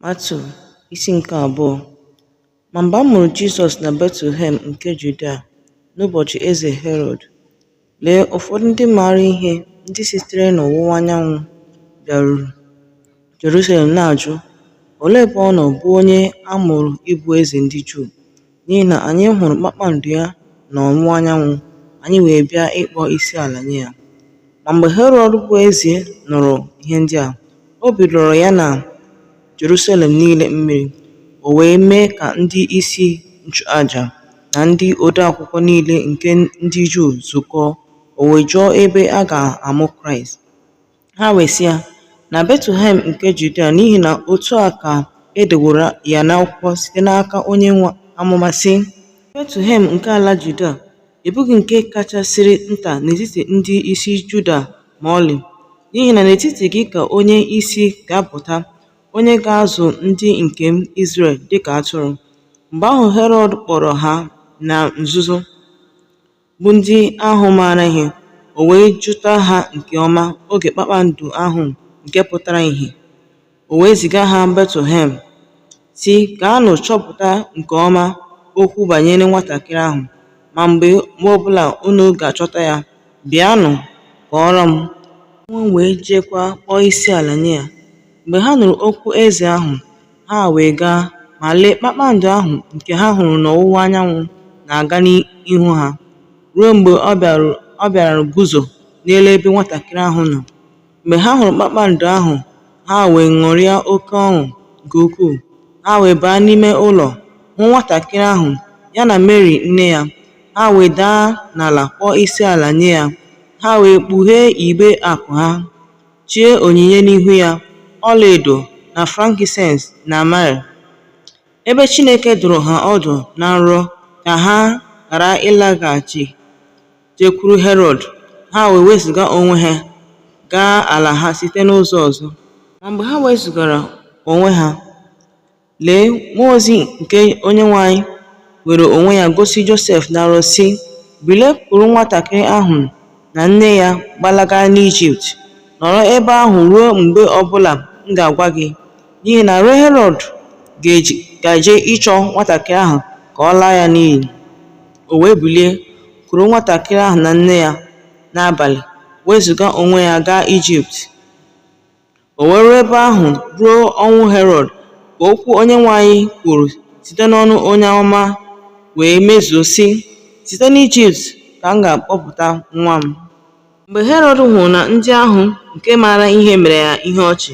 Matiu isi nke abụọ Ma mgbe a mụrụ Jizọs na Betlehem nke Judia n'ụbọchị eze Herọd, lee ụfọdụ ndị maara ihe ndị sitere n'ọwụwa anyanwụ bịaruru Jerusalem na-ajụ, Olee ebe ọ nọ bụ onye a mụrụ ịbụ eze ndị Juu? N'ihi na anyị hụrụ kpakpando ya n'ọwụwa anyanwụ, anyị wee bịa ịkpọ isi ala nye ya. Ma mgbe Herọd bụ eze nụrụ ihe ndị a, obi lọrọ ya na Jerusalem niile mmiri, o wee mee ka ndị isi nchụaja na ndị odeakwụkwọ niile nke ndị Juu zukọọ, o wee jụọ ebe a ga-amụ Kraịst. Ha wee sị ya, Na Betlehem nke Judia, n'ihi na otu a ka e deworo ya n'akwụkwọ site n'aka onye amụma, sị, Betlehem nke ala Judia, ị bụghị nke kachasịrị nta n'etiti ndị isi Juda ma ọlị, n'ihi na n'etiti gị ka onye isi ga-apụta, onye ga-azụ ndị nke m Izrel dịka atụrụ. Mgbe ahụ Herọd kpọrọ ha na nzuzo, bụ ndị ahụ maara ihe, o wee jụta ha nke ọma oge kpakpando ahụ nke pụtara ihe. O wee ziga ha Betlehem, sị gaanụ chọpụta nke ọma okwu banyere nwatakịrị ahụ, ma mgbe ọbụla unu ga-achọta ya, bịanụ kọọrọ m. Mụnwa wee jeekwa kpọọ isi ala nye ya. Mgbe ha nụrụ okwu eze ahụ, Ha wee gaa, ma lee, kpakpando ahụ nke ha hụrụ n'ọwụwa anyanwụ na-aga n'ihu ha, ruo mgbe ọ bịara guzo n'elu ebe nwatakịrị ahụ nọ. Mgbe ha hụrụ kpakpando ahụ, ha wee ṅụrịa oke ọṅụ nke ukwuu. Ha wee baa n'ime ụlọ, hụ nwatakịrị ahụ, ya na Meri nne ya, ha wee daa n'ala kpọọ isi ala nye ya. Ha wee kpughee igbe akụ ha, chee onyinye n'ihu ya, ọlaedo, na frankisens na myrrh. Ebe Chineke dụrụ ha ọdụ na nrọ ka ha ghara ịlaghachi jekwuru Herọd, ha wee wezụga onwe ha gaa ala ha site n'ụzọ ọzọ. Ma mgbe ha wezụgara onwe ha, Lee, mmụọ ozi nke Onyenwe anyị were onwe ya gosi Josef na nrọ, sị, Bilie, kuru nwatakịrị ahụ na nne ya gbalaga n'Ijipt, nọrọ ebe ahụ ruo mgbe ọ bụla m ga-agwa gị, n'ihi na Herọd gaje ịchọ nwatakịrị ahụ ka ọ laa ya n'iyi. O wee bilie, kuru nwatakịrị ahụ na nne ya n'abalị, wezụga onwe ya gaa Ijipt. O wee ruo ebe ahụ ruo ọnwụ Herọd ka okwu Onyenwe anyị kwuru site n'ọnụ onye amụma wee mezuo, sị, Site n'Ijipt ka m ga-akpọpụta nwa m. Mgbe Herọd hụrụ na ndị ahụ nke maara ihe mere ya ihe ọchị,